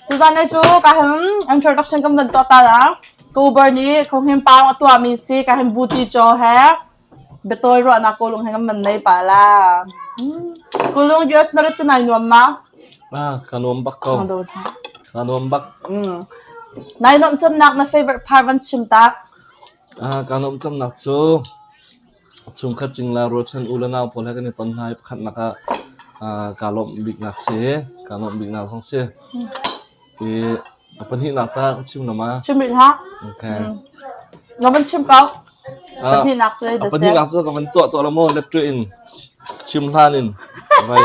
Tuzaan he cu ka hin introduction kan van tuah ta la. October ni Khawnghin paung a tuahmi si ka hin buti caw he biatawi ruahnak kulung he kan van nei pa la. Mm. Kulung US na rat cu nai nuam ma? Ah, ka nuam bak ko. Ka nuam ha. Ka nuam bak. Mm. Nai nuam cemnak na favorite part van chim tak? Ah, ka nuam cemnak cu Chungkhat cingla ruachan u le nau pawl he kan i ton hna i pakhatnak ah uh, kaa lawmh biknak si kaa lawmh biknak zong si i a pahnihnak ta ka chim nama chim rih hlah okay na van chim ko pahnihnak cu a pahnihnak cu ka van tuah tuah la maw lep tu in chim hlan in vai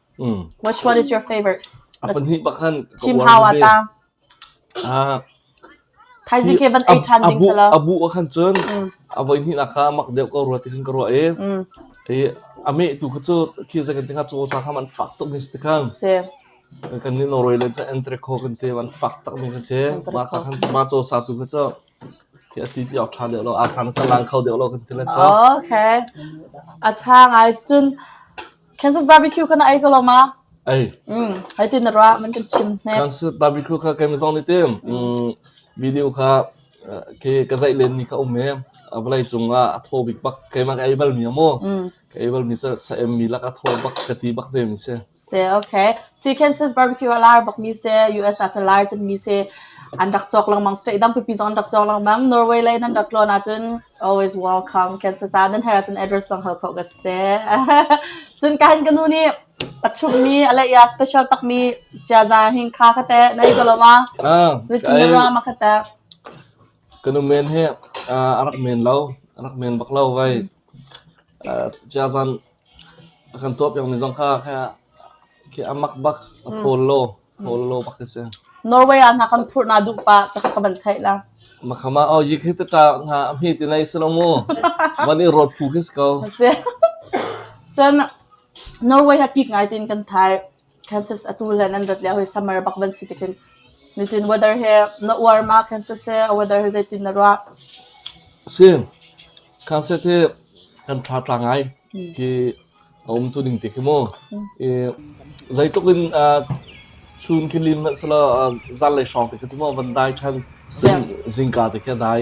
Which one is your favorite? A pahnih bakhan ka Team uar hao a ve. ta. Ah, Thaizing hi- khan ei than ding abu sala. abu ka khan cun a voi hnih nak kha mak deuh ka ruat ti khan ka ruah i Mm. i ame tu kha cu khi zakan ti kha cu sa kha man fak tuk mi si ti khan Se. kan ni Norway le cu Entrecô kan te man fak tak mi khan se ma sa khan ma cho sa tu kha cu Tiah a ti deuh ṭha deuh lo. Aa sang canglang kho deuh lo kan ti le caw. Okay. A ṭha ngai cun Kansas barbecue kha na ei ko lo ma? Ei. Mm, hei tin na ruah, man kan chim hne. Kansas barbecue kha kei zong nih tim mm, video kha khi ka zeih len ni kha um e. A vawlei cung ah a thaw bik bak keimah ka ei bal mi a maw. Able nih cun sa em mi lak a thaw bak ka ti bak ve mi si. Si okay. Si Kansas barbecue a lar bak mi si, US ah cun lar cun mi si an rak cawk lengmang state dang pipi zong an rak cawk lengmang. Norway lei nan rak tlawn ah cun always welcome Kansas ah nan her ah cun address zong hal kho ka si. cun kahan ka nu nih a chung mi a lei ah special tak mi jaza hing kha ka te nei ko lo ma. Ah, Nit ka mara ma ka te. Ka nu men hi a rak men lo, a rak men bak lo vai. Ciazan a kan tuah piakmi zong kha khi a mak bak, a thawl lo, thawl lo bak a si. Norway ah hna kan phurh na duh pah ta ka van theih la. Makhama oh yik hi ta ta nga amhi ti nei silo mu. Van i rot phu khi si ko. Si. Cun Norway ha kik ngai tin kan thai. Kansas atu le nan rat lio hi summer bak van si tikin nitin weather he na uar ma Kansas he a weather he zeitin na ruah? Si. Kansas hi kan thla tla ngai ki a um tu ning ti khi mu. I zeitluk in chun khi lim hmanh selo zan le hrawng ti khi mu van dai than sin zingka ti khi dai.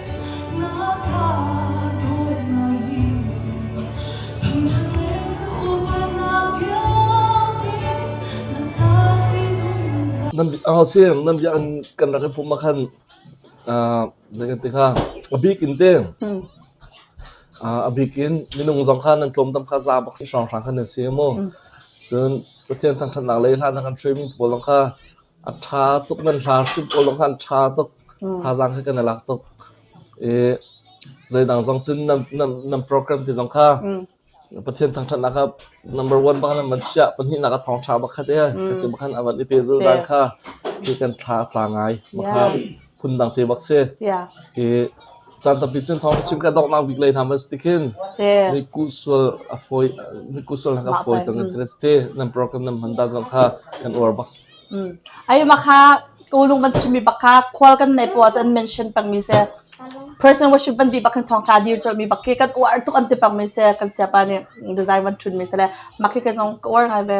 Angasi nan bia an kan rak pum ma khan nan kan tikha a bik in te a bik in minung zong kha nan tlawm dam kha za bak si hrang hrang khan nan si mu cun Pathian thang that nak le hlan thang kan three min pawl zong kha A ṭha tuk nan hlar hrim ko lo khan ṭha tuk thazaang kha kan i lak tuk i zeidang zong cun nan, nan, nan program ti zong kha Pathian thangṭhatnak kha number one bak nan van chiah pahnihnak a thawngṭha bak kha te ka ti bak khan a van i pehzulh dan kha ti kan thla tla ngai ma kha phundang te bak si i caan tampi cun thawng chin ka doknak bik lei tham as ti khin ni kusual a foi ni kusual hak a foi tang an thres te nan program nan man da zong kha kan uar bak ai ma kha tu lung ban chimi bak kha khwal kan nei po chan mention pang mi se person worship van di bak kan thong ka dir cho mi bak ki kan uar tuk an ti pang mi se kan sia pa ne design wan thun mi se le ma ki ka zong uar ngai be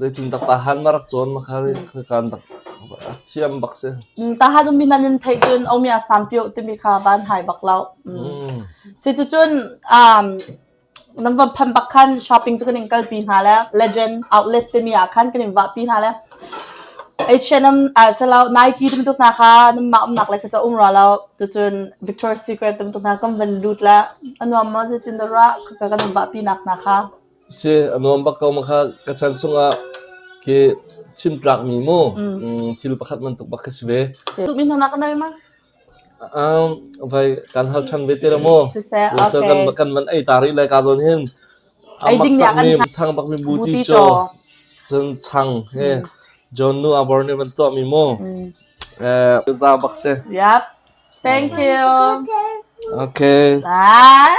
Zeitindah tahan na rak cawn kha kan rak thiam bak si. Tahan um minan in thei cun omia sampio timi kha ban hai bak lo. Si cu cun nam van phan bak khan shopping cu kan in kal pi hna le legend outlet timi ah khan kan in va pi hna le H&M ah selo Nike tum tuk na kha nam ma um nak le kha um ra lo tu cun Victoria's Secret tum tuk na kan van lut le anuam ma zetin da ra ka kan va pi nak na kha Si a nuam bak ko ma kha ka chan chungah khi chim tlakmi mu thil pakhat man tuk bak ka si ve. Tumi hna nak nai ma? Um, vai kan hal than ve te la mo. Siseh, okay. kan kan man ai tari lai ka zon hin. Ai ding nya kan thang bak mi bu ti cho. Chun chang he John Nu Aborne ban to mi mo. Eh, za bak se. Yep. Thank you. Okay. Bye.